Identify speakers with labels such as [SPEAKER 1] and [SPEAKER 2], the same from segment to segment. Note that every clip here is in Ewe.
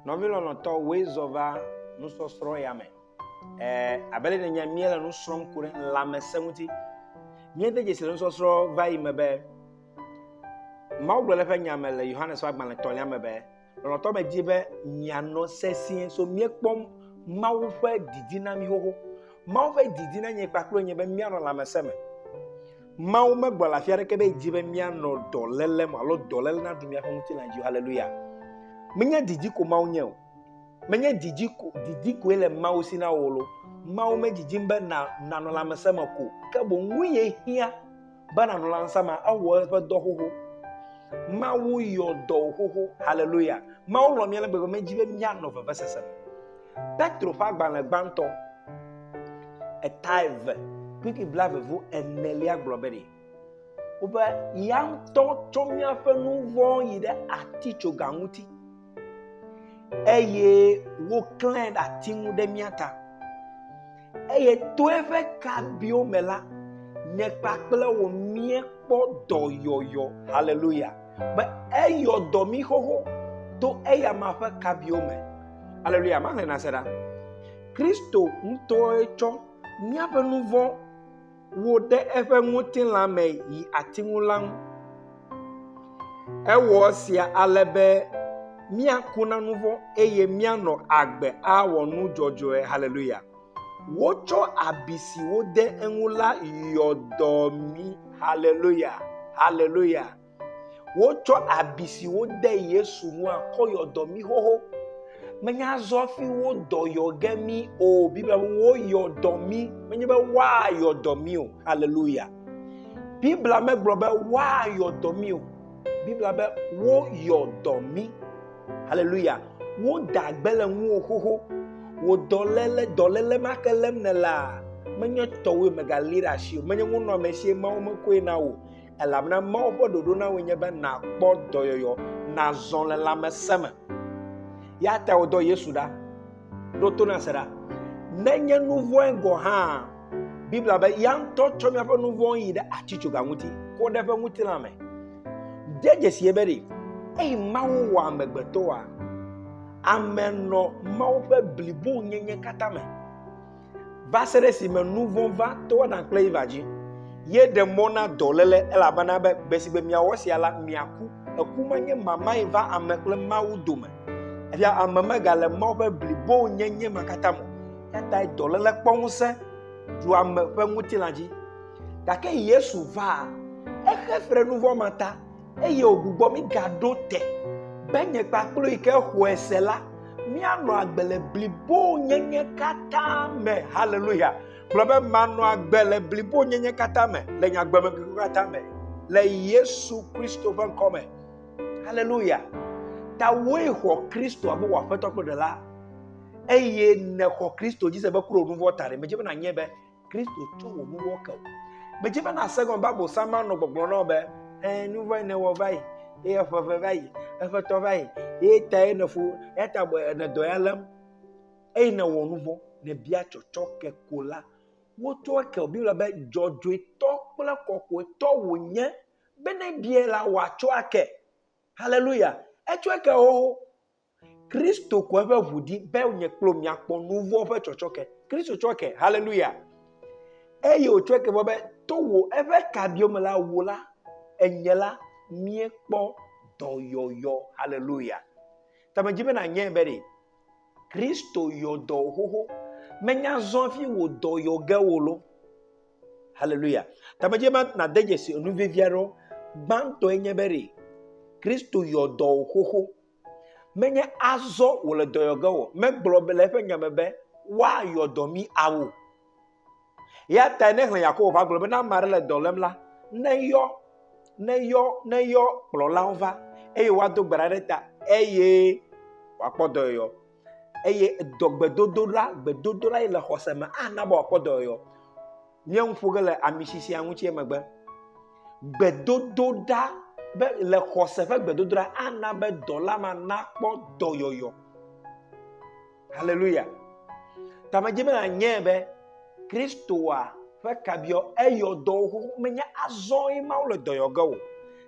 [SPEAKER 1] Nɔvi lɔlɔ̃tɔ woe zɔ va nusɔsrɔ̃ ya me. Eh, abe le nènya míele nu srɔ̃m ku ɖe lãmesẽ ŋuti. Míede dzesi le nusɔsrɔ̃ va yi me be Mawu gblɔ ɖe eƒe nya me le Yohanes ƒe agbalẽ tɔ̃lia me be Lɔlɔ̃tɔ medi be mianɔ sesĩe so míekpɔ Mawu ƒe didi na mí xoxo. Mawu ƒe didi na nye kpakple nye be míanɔ lãmesẽ me. Mawu megblɔ le afi aɖeke be edi be míanɔ dɔléle me alo dɔléle naɖu míaƒe ŋutilã dzi. Haleluya! Menye didi ko Mawu nye o. Menye didi ko didi koe le Mawu si na wò lo. Mawu medidim be nànɔ lãmesẽ me ko, ke boŋ nu ye hiã be nanɔ lãnsa ma ewɔ eƒe dɔ xoxo mawu yɔ dɔ xoxo haleluya mawu lɔ mía le gbegbe medzi be míanɔ vevesese me petro ƒe agbalẽ gbãtɔ eta eve kpikpi bla vevo enelia gblɔ be ɖi wobe ya ŋutɔ tsɔ míaƒe nu vɔ̃ yi ɖe atitsoga ŋuti eye woklãe ɖe ati ŋu ɖe mía ta. Eye to eƒe kabiwo me la, nye kpakple wò míekpɔ dɔyɔyɔ. Haleluya. Be eyɔ dɔ mí xoxo to eya ma ƒe kabiwo me. Haleluya. Mahlẽ na se ɖa. Kristo ŋutɔe tsɔ míaƒe nu vɔ̃ wo ɖe eƒe ŋutilã me yi ati ŋu la ŋu. Ewɔ esia ale be míaku na nu vɔ̃ eye míanɔ agbe awɔ nu dzɔdzɔe. Haleluya! Wotsɔ abi si wode eŋu la yɔ dɔ mí. Haleluya! Haleluya! Wotsɔ abi si wode Yesu ŋua kɔ yɔ dɔ mí xoxo. Menye azɔ fi wodɔ yɔ ge mí o. Biblia be woyɔ dɔ mí. Menye be woayɔ dɔ mí o. Haleluya. Biblia megblɔ be woayɔ dɔ mí o. Biblia be woyɔ dɔ mí. Haleluya. Woda gbe le ŋuwò xoxo. Wò dɔléle, dɔléle ma ke lém nèlea, menye tɔwòe mègalée ɖe asi o. Menye ŋunɔamesi ye Mawu mekɔe na wò. Elabena Mawu ƒe ɖoɖo na wòe nye be nàkpɔ dɔyɔyɔ, nàzɔ le lãmesẽ me. Ya ta wòdɔ Yesu ɖa. Ɖo to na se ɖa. Nenye nu vɔ̃e gɔ̃ hã, Biblia be ya ŋutɔ tsɔ míaƒe nu vɔ̃ yi ɖe atitsoga ŋuti, kɔ ɖe eƒe ŋutilã me. De dzesi be ɖe eyi Mawu wɔ amegbetɔa, ame nɔ Mawu ƒe blibonyenye katã me. va se ɖe esime nu vɔ̃ va to Adam kple Eva dzi. Ye ɖe mɔ na dɔléle elabena be gbe si gbe miawɔ sia la, miaku. Eku ma nye mamae va ame kple Mawu dome. Efia ame megale Mawu ƒe blibonyenye ma katã me. Eyatae dɔléle kpɔ ŋusẽ ɖu ame ƒe ŋutilã dzi. Gake Yesu va, exe fe ɖe nu vɔ̃ ma ta eye wògbugbɔ mí gaɖo te be nye kpakple yi ke xɔe se la, míanɔ agbe le blibonyenye katã me. Haleluya! Gblɔ be manɔ agbe le blibonyenye katã me, le nye agbemeŋkekewo katã me, le Yesu Kristo ƒe ŋkɔ me. Haleluya! Tawòe xɔ Kristo abe wò aƒetɔ kple ɖela eye nèxɔ Kristo dzi se be kuro nuvɔ ta ɖe. Medze be nànyae be Kristo tsɔ wò nuwo ke wò. Medzi be nàse gɔme be abosam anɔ gbɔgblɔ na wò be, ee, nu vɔ̃e nèwɔ va yi, eye eƒe ʋe va yi, eƒe tɔ va yi, eye tae nèfo, ya ta bɔ nèdɔ ya lém, eye nèwɔ nu vɔ̃, nèbia tsɔtsɔ ke ko la. Wotsɔ ke wò Biblia be dzɔdzɔetɔ kple kɔkɔetɔ wònye be ne biae la, wòatsɔ ake. Haleluya! Etsɔe ke wo Kristo ku eƒe ʋu ɖi be nye kple miakpɔ nu vɔ̃ ƒe tsɔtsɔke. Kristo tsɔ ke, haleluya. Eye wòtsɔ ke vɔ be to wò eƒe kabiɔ me la wò la, enye la, míekpɔ dɔyɔyɔ, haleluya. Ta medzi be nànyae be ɖe Kristo yɔ dɔ xoxo, menya zɔ fi wò dɔ yɔ ge wò lo, haleluya. Ta medzi be nàde dzesi enu vevi aɖewo, gbãtɔe nye be ɖe Kristo yɔ dɔ xoxo, Menye azɔ wòle dɔyɔge o. Megblɔ be le eƒe nya me be woayɔ dɔ mi ao. Ya tae ne xlẽ Yakobo va gblɔ be ne ame aɖe le dɔ lém la, neyɔ, neyɔ, neyɔ kplɔlawo va eye woado gbe ɖa ɖe ta eye wòakpɔ dɔyɔyɔ. eye dɔ gbedodoɖa gbedodoɖa yi le xɔse me ana be wòakpɔ dɔyɔyɔ. Nye nu ƒo ge le amisisia ŋuti emegbe. Gbedodoɖa be le xɔse ƒe gbedodoɖa ana be dɔla ma nakpɔ dɔyɔyɔ. Haleluya. Ta medze be nanye be Kristoa ƒe kabiɔ eyɔ dɔwo xoxo menye azɔ ye Mawu le dɔyɔ ge o.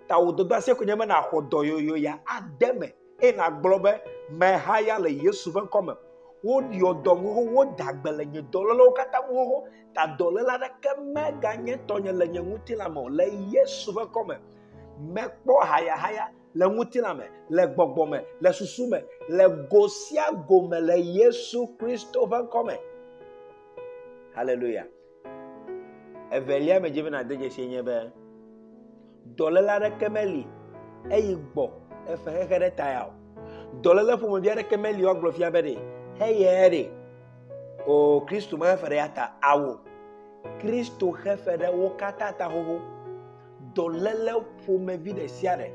[SPEAKER 1] Ta wò dɔdɔasia koe nye be nàxɔ dɔyɔyɔ ya ade me. eye nàgblɔ be, Meha ya le Yesu ƒe ŋkɔ me. Woɖɔ dɔm xoxo, woda gbe le nye dɔlélewo katã ŋu xoxo, ta dɔléle aɖeke meganye tɔnye le nye ŋutilã me o. Le Yesu ƒe ŋkɔ me, mekpɔ hayahaya le ŋutilã me, le gbɔgbɔ me, le susu me, le go sia go me le Yesu Kristo ƒe ŋkɔ me. Haleluya. Evelia medze be nàde dzesi nye be dɔléle aɖeke meli eyi gbɔ efe xexe ɖe ta ya o. Dɔléle ƒomevi aɖeke meli woagblɔ fia be ɖe heye ɖe o Kristo mehefe ɖe ya ta awo. Kristo hefe ɖe wo katã ta xoxo. Dɔléle ƒomevi ɖe sia ɖe.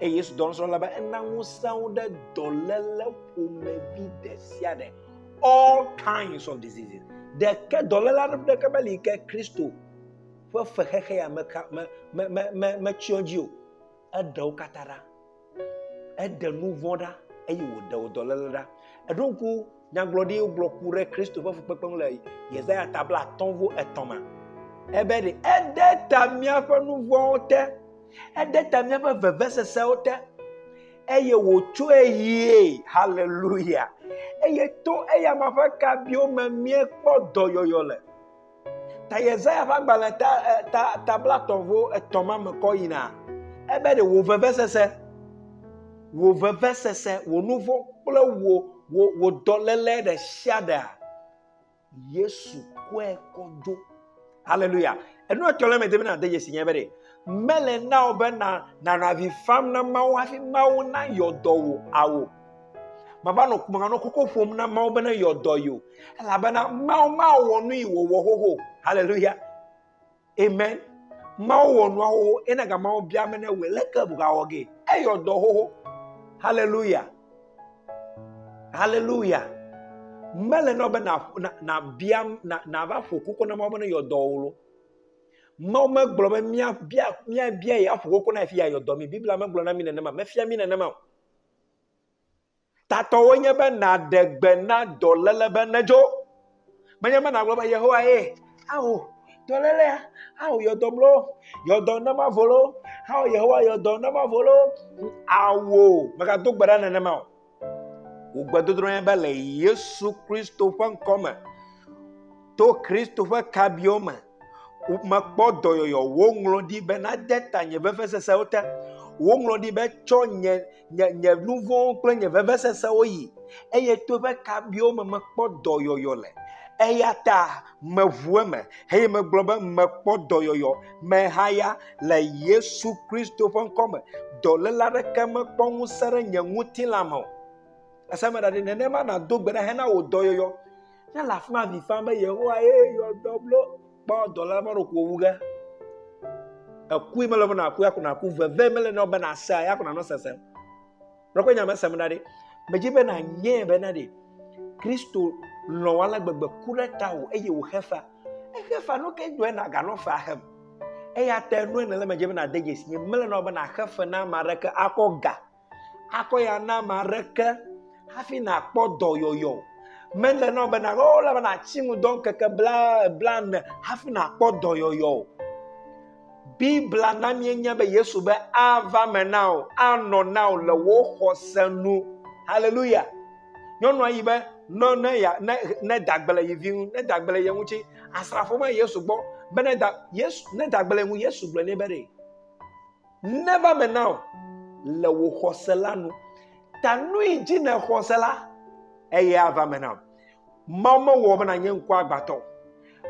[SPEAKER 1] Eye Yesu dɔnusrɔ̃la be ena ŋusẽ wo ɖe dɔléle ƒomevi ɖe sia ɖe all kinds of diseases ɖeke dɔléla ɖeke meli ke kristo ƒe fexexe ya metsyɔ dzi o eɖe wo katã ɖa eɖe nu vɔ̃ ɖa eye wòɖe wo dɔléle ɖa eɖo ŋku nyagblɔɖi gblɔ ku ɖe kristo ƒe fukpekpe ŋu le yesaya tabla atɔ̃ vo etɔ̃ me ebe ɖe eɖe ta míaƒe nu vɔ̃wo te eɖe ta míaƒe vevesesewo te eye wòtsɔe yie. Haleluya. Eye to eya ma ƒe kabiwo me míekpɔ dɔyɔyɔ le. Ta Yesaya ƒe agbalẽ ta, eh, ta, ta blatɔ̃vo etɔ̃ ma me kɔ yina. Ebe ɖe wò vevesese, wò vevesese, wò nu vɔ̃ kple wò, wò, wò dɔléle ɖe sia ɖea, yesu kɔe kɔ dzo hallelujah enu etɔ lɛ mɛ de bena de yesi nyɛ bɛ de mele na o bena nana vi fam na mawo hafi mawo na yɔdɔ wo awo mava nɔ kumanga nɔ koko ƒom na mawo bena yɔdɔ yo elabena mawo mawo wɔ nu yi wòwɔ xoxo hallelujah Amen. Mawu wɔ nuawo ena ga mawo bia me ne wɔ leke bugawɔ ge. Eyɔ dɔ xoxo. Hallelujah. Hallelujah. Mele nɔ be na na na bia na na va ƒo koko na mawu be ne yɔ dɔ wolo. Mawu megblɔ be mia bia mia bia ya ƒo koko na fi ya yɔ dɔ mi. Biblia megblɔ na mi nenema. Mefia mi nenema o. Tatɔwoe nye be nàɖe gbe na dɔléle be nedzo. Menye be nàgblɔ be, Yehowae, ao dɔlélea, ao yɔ dɔm loo, yɔ dɔm ne mavo loo, ao Yehowa yɔ dɔm ne mavo loo. Ao, megado gbe ɖa nenema o. Wò gbedodrɔ̃ nye be le Yesu Kristo ƒe ŋkɔ me, to Kristo ƒe kabiwo me, Mekpɔ dɔyɔyɔ, woŋlɔ ɖi be nade ta nye vevesesewo te. Woŋlɔ ɖi be tsɔ nye, nye, nye nu vɔ̃wo kple nye vevesesewo yi. Eye to eƒe kabiwo me mekpɔ dɔyɔyɔ le. Eya ta meʋu eme eye megblɔ be mekpɔ dɔyɔyɔ mehaya le Yesu Kristo ƒe ŋkɔ me. Dɔléle aɖeke mekpɔ ŋusẽ ɖe nye ŋutilã me o. Ese me ɖaɖɛ, nenema nàdo gbe ɖa hena wò dɔyɔyɔ. Ne le afi ma avi fam be yehowa ye yɔ dɔ blo kpɔ dɔla ma ɖo ko wu ge ekui mele be naku ya ko naku veve mele na be nasea ya ko nanɔ sesem lɔkɔ nya mesem da ɖi medzi be nanyɛ be na ɖi kristo lɔ wa le gbegbe ku ɖe ta o eye wò xefa exefa no ke dɔe na ganɔ fa hem eya te nu ne le medzi be nade dzesi mele na be naxe fe na ame aɖeke akɔ ga akɔ ya na ame aɖeke hafi nàkpɔ dɔyɔyɔ. Mele na wò be nàgblɔ wo la be nàti nu dɔ ŋkeke bla blaene hafi nàkpɔ dɔyɔyɔ o. Biblia na míenya be Yesu be ava me na wò, anɔ na wò le wò xɔse nu. Haleluya. Nyɔnua yi be ne ne ya ne ne dagble yi vi ŋu, ne dagble ye ŋuti, asrafo va Yesu gbɔ be ne da Yesu ne dagble ŋu Yesu gblɔ nɛ be ɖe Never me now le wò xɔse la nu. Ta nui dzi ne xɔse la eye ava me now. Mawu mewɔ be nanye ŋku agbatɔ.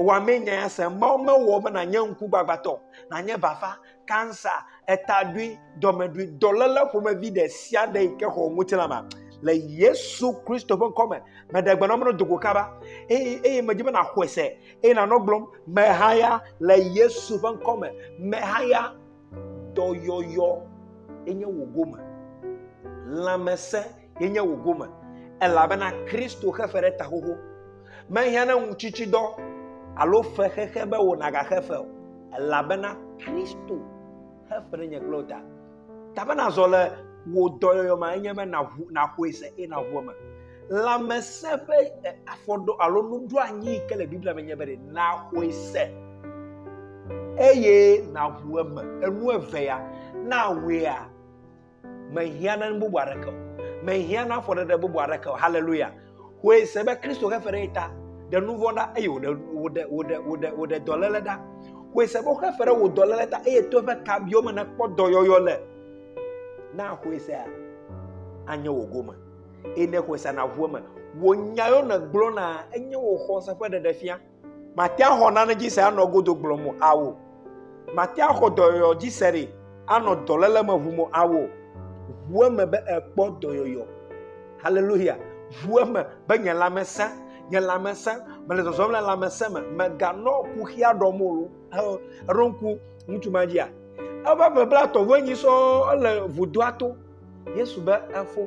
[SPEAKER 1] Wa me nya ya se. Mawu mewɔ be nanye ŋku gbagbatɔ, nanye bafa, kansa, etaɖui, dɔmeɖui, dɔlele ƒomevi ɖe sia ɖe yi ke xɔ ŋutilã ma. Le Yesu Kristo ƒe ŋkɔ me, meɖe gbe na me dogo kaba eye eye medzi be naxɔe se eye nanɔ gblɔm mehaya le Yesu ƒe ŋkɔ me. Mehaya dɔyɔyɔ enye wò gome, lãmesẽ enye wò gome, elabena Kristo xe fe ɖe ta xoxo. Mehiã na ŋutsitsidɔ alo fe xexe be wò nagaxe fe o, elabena Kristo xe fe ɖe nye kple wò ta. Ta be nazɔ le wò dɔyɔyɔ me enye be nàxɔe se eye nàŋu eme. Lãmesẽ ƒe afɔɖo alo nuɖoanyi yi ke le Biblia me nye be ɖe naxɔe se eye naʋu eme. Enu eve ya na awea mehiã na nu bubu aɖeke o. Mehiã na afɔɖeɖe bubu aɖeke o. Haleluya. Xɔe se be Kristo xe fe ɖe ta ɖe nu vɔ̃ ɖa eye wòɖe wòɖe wòɖe wòɖe wòɖe dɔléle ɖa. Xɔe se be woxe fe ɖe wò dɔléle ta eye to eƒe kabiwo me nèkpɔ dɔyɔyɔ le. Na xɔe sea anye wò gome. eye ne xɔe sa naʋu eme. Wò nya yewo nègblɔna enye wò xɔse ƒe ɖeɖefia. Màte ŋu axɔ nane dzi se anɔ godo gblɔm o, ao. Màte ŋu axɔ dɔyɔyɔ dzi se ɖi anɔ dɔléle me ʋum o, ao. Ʋu eme be èkpɔ dɔyɔyɔ. Haleluya! Ʋu eme be nye lãme sẽ, nye lãme sẽ, mele zɔzɔm le lãmesẽ me. Mèganɔ kuxia ɖɔm o. Èɖo ŋku ŋutsu ma dzia? Eƒe ƒe blaetɔ̃ vɔ enyi sɔŋ ele vudoa to. Yesu be efo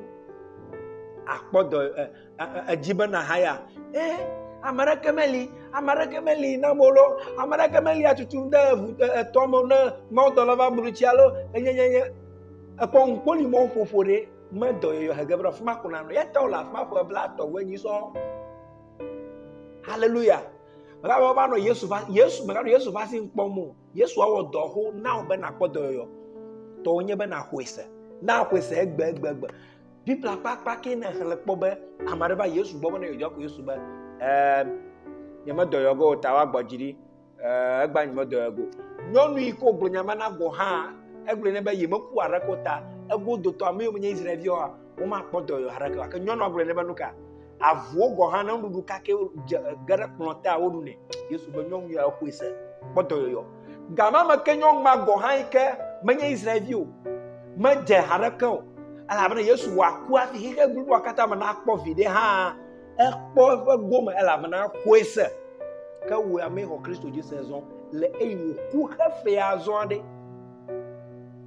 [SPEAKER 1] akpɔ dɔ edzi be nahaya e ame aɖeke meli ame aɖeke meli na mo lo ame aɖeke meli atutu de eŋu etɔ me ne mawudɔla va blu tsi alo enyenyenye ekpɔ ŋukpoli mɔ ƒoƒo ɖe medɔ yɔyɔ hege be afima ko nanɔ yata wole afima ƒe bla tɔ wɔ enyi sɔ haleluya mɛgalo va nɔ yesu va yesu mɛgalo yesu va si ŋkpɔ mo Yesu awɔ dɔ xoxo na wò be nàkpɔ dɔyɔyɔ. Tɔwò nye be nàxɔe se. Na xɔe se egbegbe. Biblia ƒe akpa ke nèxlẽ kpɔ be ame aɖe va Yesu gbɔ be ne yewodzɔ ko Yesu be ɛɛ nyemedɔyɔ ge o ta woagbɔ dzi ɖi ɛɛ egba nyemedɔyɔ ge o. Nyɔnu yi ke wògblɔ nya ma na gɔ̃ hã egblɔe nɛ be yemeku aɖeke o ta egodotɔ ame yiwo menye Israel viwoa Womakpɔ dɔyɔ aɖeke gake nyɔnua gblɔ nɛ be nuka avuwo gɔ hã ne nuɖuɖu kake dze ge ɖe kplɔ te a woɖu nɛ. Yesu be nyɔnu ya xɔe se kpɔ dɔyɔyɔ. Gama me ke nyɔnu ma gɔ hã yi ke menye Israelvi o. Medze ha ɖeke o. Elabena Yesu wɔ aku hafi xexe bliboa katã me nakpɔ viɖe hã ekpɔ eƒe gome elabena xɔe se. Ke wò ame xɔ Kristo dzi se zɔ le eye wòku xefea zɔ aɖe.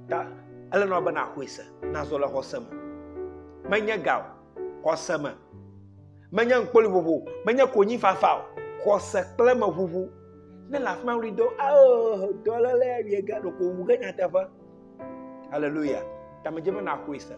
[SPEAKER 1] Ta ele nɔ be nàxɔe se. nazɔ le xɔse me menye ga o xɔse me menye ŋkpoli vovo menye konyi fafa o xɔse kple meʋuʋu ne le afi ma wuli do ao dɔlele awie ge ɖeko wu ge nyateƒe haleluya tamedze be naxɔe se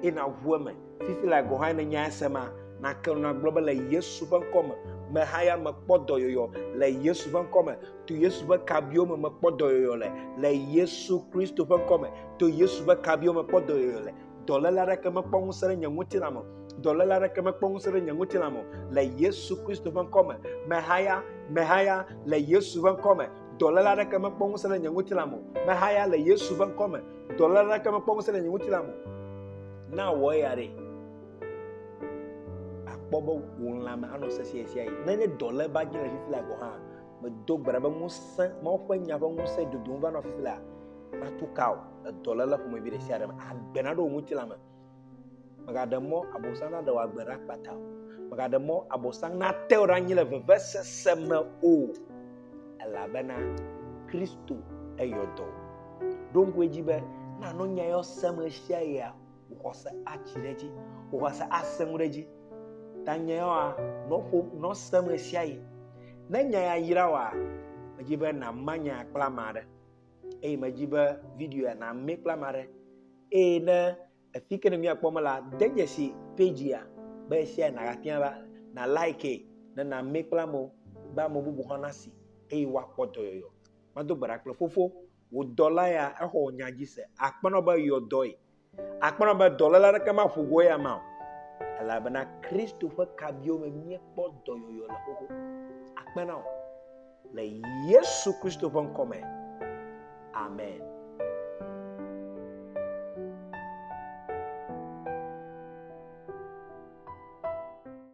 [SPEAKER 1] eye naʋu eme Fifi lae gɔ̃ hã ne nya esema, nàke nu agblɔ be le Yesu ƒe ŋkɔ me, meha ya mekpɔ dɔyɔyɔ le Yesu ƒe ŋkɔ me, to Yesu ƒe kabiwo me mekpɔ dɔyɔyɔ le, le Yesu Kristo ƒe ŋkɔ me, to Yesu ƒe kabiwo me kpɔ dɔyɔyɔ le. Dɔléle aɖeke mekpɔ ŋusẽ ɖe nye ŋutilã me dɔléle aɖeke mekpɔ ŋusẽ ɖe nye ŋutilã me le Yesu Kristo ƒe ŋkɔ me, mehaya, mehaya le Yesu ƒe ŋkɔ me, dɔléle aɖeke mekpɔ ŋusẽ ɖe nye ŋutilã me mehaya le Yesu ƒe ŋkɔ me. Dɔla la ke mekpɔ ŋusẽ le nye ŋutilã me. Na wɔ eya ɖe. Akpɔ be wò lãme anɔ sesẽ sia yi. Nenye dɔla va dze le fifi la gɔ̃ hã, medo gbe ɖa be ŋusẽ, Mawu ƒe nya ƒe ŋusẽ dodom va nɔ fifi la, matu ka o, le dɔla la ƒomevi ɖe sia ɖe me. Agbe naɖo wò ŋutilã me. Mègaɖe mɔ Abosam naɖe wò agbe ɖa kpata o. Mègaɖe mɔ Abosam nate wò ɖe anyi le vevesese me o. Elabena Kristo eyɔ dɔ wò. Ɖo ŋku edzi be nànɔ nya yɔ sem ɣe sia ɣia, wò xɔse atsi ɖe edzi, wò xɔse asẽ ŋu ɖe edzi. Ta nya yɔa, nɔ ƒom, nɔ sem ɣe sia ɣi. Ne nya ya yra wòa, medzi be nàma nya ya kple ame aɖe. eye medzi be video ya nàmee kple ame aɖe eye ne afi ke ne míakpɔ me la de dzesi page ya be esia nàgatia la na like ne nàmee kple amewo be ame bubu hã nasi eye woakpɔ dɔyɔyɔ mado gbe ɖa kple fofo wò dɔla ya exɔ wò nya dzi se akpɔnɔ be yɔ dɔe Akpɔnɔ be dɔléle aɖeke maƒo go eya ma o, elabena Kristo ƒe kabiwo me míekpɔ dɔyɔyɔ le xoxo. Akpe na wò le Yesu Kristo ƒe ŋkɔ me. Amen.